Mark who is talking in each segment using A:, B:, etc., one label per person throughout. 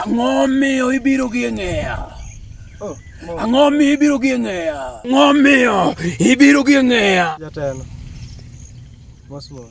A: Ang'o miyo ibiro gi ng'eya? Oh, Ang'o miyo ibiro gi ng'eya? Ang'o miyo ibiro gi ng'eya? Jatelo. Mosmos.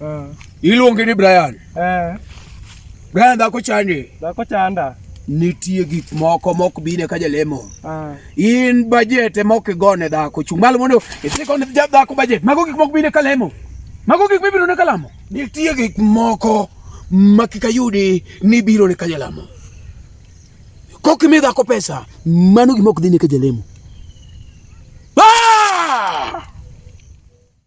A: Ah. Iluonge ni Brian. Eh. Brian dhako chande. Dhako chanda. Nitie gik moko mok bine ka jalemo. Ah. In budget e mok igone dhako. Chung' malo mondo isikone dhako budget. Mago gik mok bine ka lemo. Mago gik mibiro ne ka lamo. Nitie gik moko ma kika yudi ni biro ne ka jalamo. Kok imi dhako pesa, mano gima ok dhi ne ka jalemo.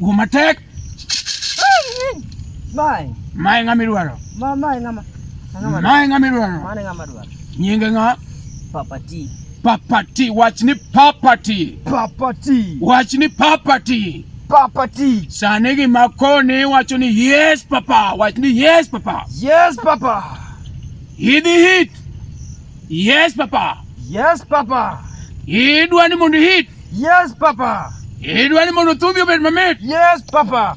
A: Umatek. Mai. Mai ngami ruaro. Mai ngama. Mai ngami ruaro. Mai ngama ruaro. Nyinga nga. Papati. Papati, wach ni papati. Papati. Wach ni papati. Papati. Sani gima koni wacho ni yes papa, wach ni yes papa. Yes papa. Hidi hit. Yes papa. Yes papa. Idwa ni mondo hit. Yes papa. Idwa ni mondo thumbi obed mamit. Yes papa.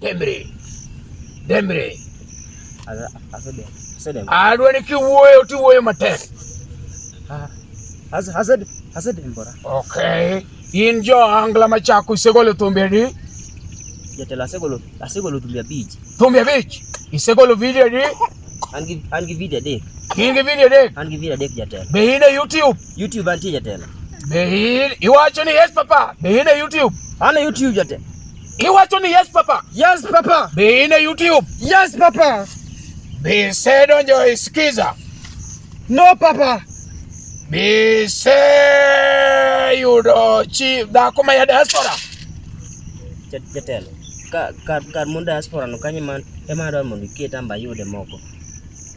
A: Demre. Demre. Adwani kiwuoyo tiwuoyo matek. Okay. In jo angla machako isegolo thumbe di? Jatelo asegolo asegolo thumbe abich. Thumbe abich? Isegolo video di? An gi an gi video adek. In gi video adek? An gi video adek jatelo. Be in e YouTube? YouTube antie jatelo. Be in iwacho ni yes papa? Be in e YouTube? An e YouTube jatelo. Iwacho ni yes papa. Yes papa. Be in a YouTube. Yes papa. Be se donjo e Skiza. No papa. Be se yudo chi dhako ma ya diaspora. Jatelo. Kar kar mon diaspora no kanyo ema adwaro mondo iket amba yude moko.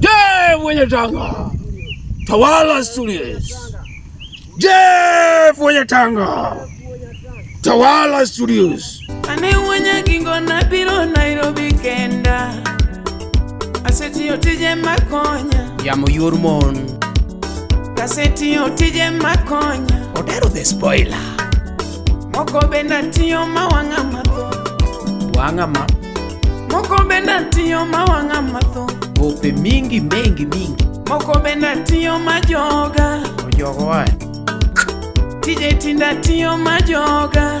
A: Je, mwenye Tanga tawala studies. Je, mwenye Tanga tawala studies. Ane mwenye kingo na pilo Nairobi kenda aseti yotije makonya ya muyurmon kaseti yotije makonya otero the spoiler Moko bende tiyo ma wang'a matho. Wang'a ma. Moko bende tiyo ma wang'a matho. Ope mingi mengi mingi. Moko bende tiyo ma joga. Ojogo wae. Tije tinda tiyo ma joga.